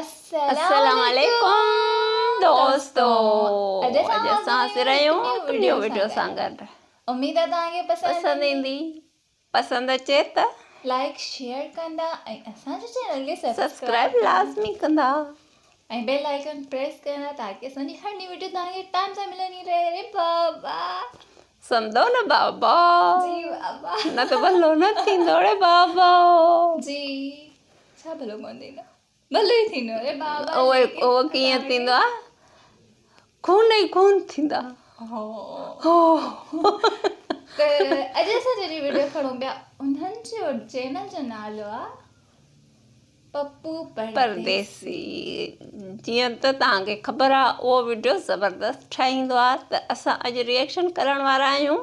السلام عليڪم دوستو اڄ اسان حاضر آهيون وڊيو وڊيو سان گڏ اميد آهي توهان کي پسند ايندي پسند اچي ته لائڪ شيئر ڪندا ۽ اسان جي چينل کي سبسڪرائب لازمي ڪندا ۽ بيل آئيڪن پريس ڪندا تاڪي اسان جي هر ني وڊيو توهان کي ٽائم سان ملندي رهي ري بابا سمدو نه بابا جي بابا نه ته بلو نه ٿيندو ري بابا جي ڇا ڀلو ڪونه ٿيندو ڀلو ئي ٿيندو اڙي بابا اوئي اوئي ڪيئن ٿيندو آ خون ئي خون ٿيندا هو هو ته اڄ اسان جي ويڊيو کڻو پيا انهن جو چينل جو نالو آ پپو پرديسي جيئن ته تان کي خبر آ اهو ويڊيو زبردست ٺاهيندو آ ته اسان اڄ ريئڪشن ڪرڻ وارا آهيون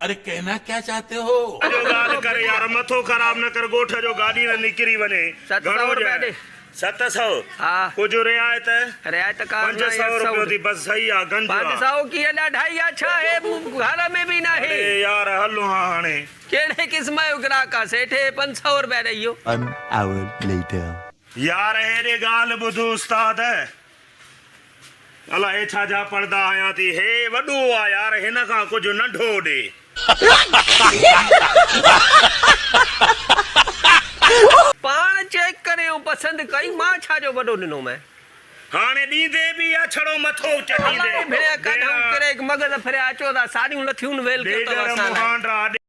اري ڪهنا ڪيا چاهتي هو. جو ڳالهه ڪر يار مٿو خراب نه ڪر ڳوٺ جو گاڏي نه نڪري وڃي گهڻو ڏيڻ ست سئو ڪجهه رعايت پنج سئو روپيو ٿي بس صحيح آ گنج آ اڙي يار هل هان هاڻي. يار هيڏي ڳالهه ٻڌ استاد الا هي ڇا جا پڙدا هنيا ٿي. هي وڏو آ يار هن کان ڪجهه ننڍو ڏي. پاڻ چيڪ ڪريو پسند ڪئي مان ڇا جو وڏو ڏنو مين. هاڻي ڏيندي به يا ڇڙو مٿو چٽيندي. الا اي ڀيڻيا ڪاڍائون ڪريڪ مغز ڦريا اچو ٿا ساڙيون لٿيون ويل ڪيو ٿو اسان لاء.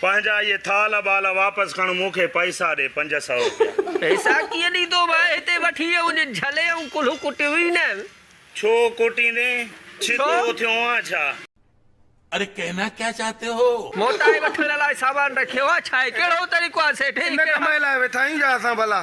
پنهنجا اهي ٿالهه ٻالهه واپس کڻ مون کي پئسا ڏي پنج سئو روپيا. پئسا ڪيئن ڏيندو ڀاء هتي وٺي اهو جي جهلي ۽ ڪلهون ڪٽيون ئي نه. ڇو ڪٽيندين ڇتو ڇو؟ ٿيو آن ڇا. اري ڪهنا ڪيا چاهتي هو. موٽائي وٺڻ لاء سامان رکيو آ ڇا هي ڪهڙو طريقو آ سيٺ هي ڪهڙا. ان ڪم لاء ويٺا آهيون ڇا اسان ڀلا.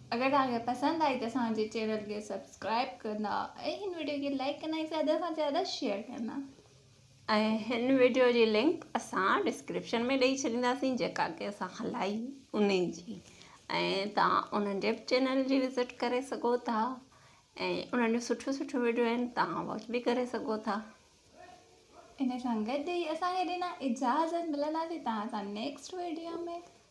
اگر توهان کي پسند آئي ته اسان جي چينل کي سبسڪرائب ڪندا ۽ هن وڊيو کي لائڪ ڪندا ۽ زياده کان زياده شيئر ڪندا ۽ هن وڊيو جي لنڪ اسان ڊسڪرپشن ۾ ڏئي ڇڏينداسين جيڪا ڪي اسان هلائي انهي جي ۽ توهان انهن جي به چينل جي وزٽ ڪري سگهو ٿا ۽ انهن جون سٺيون سٺيون وڊيو آهن توهان واچ به ڪري سگهو ٿا انهي سان گڏ هي اسان کي ڏنا اجازت ملنداسين توهان سان نيڪسٽ وڊيو ۾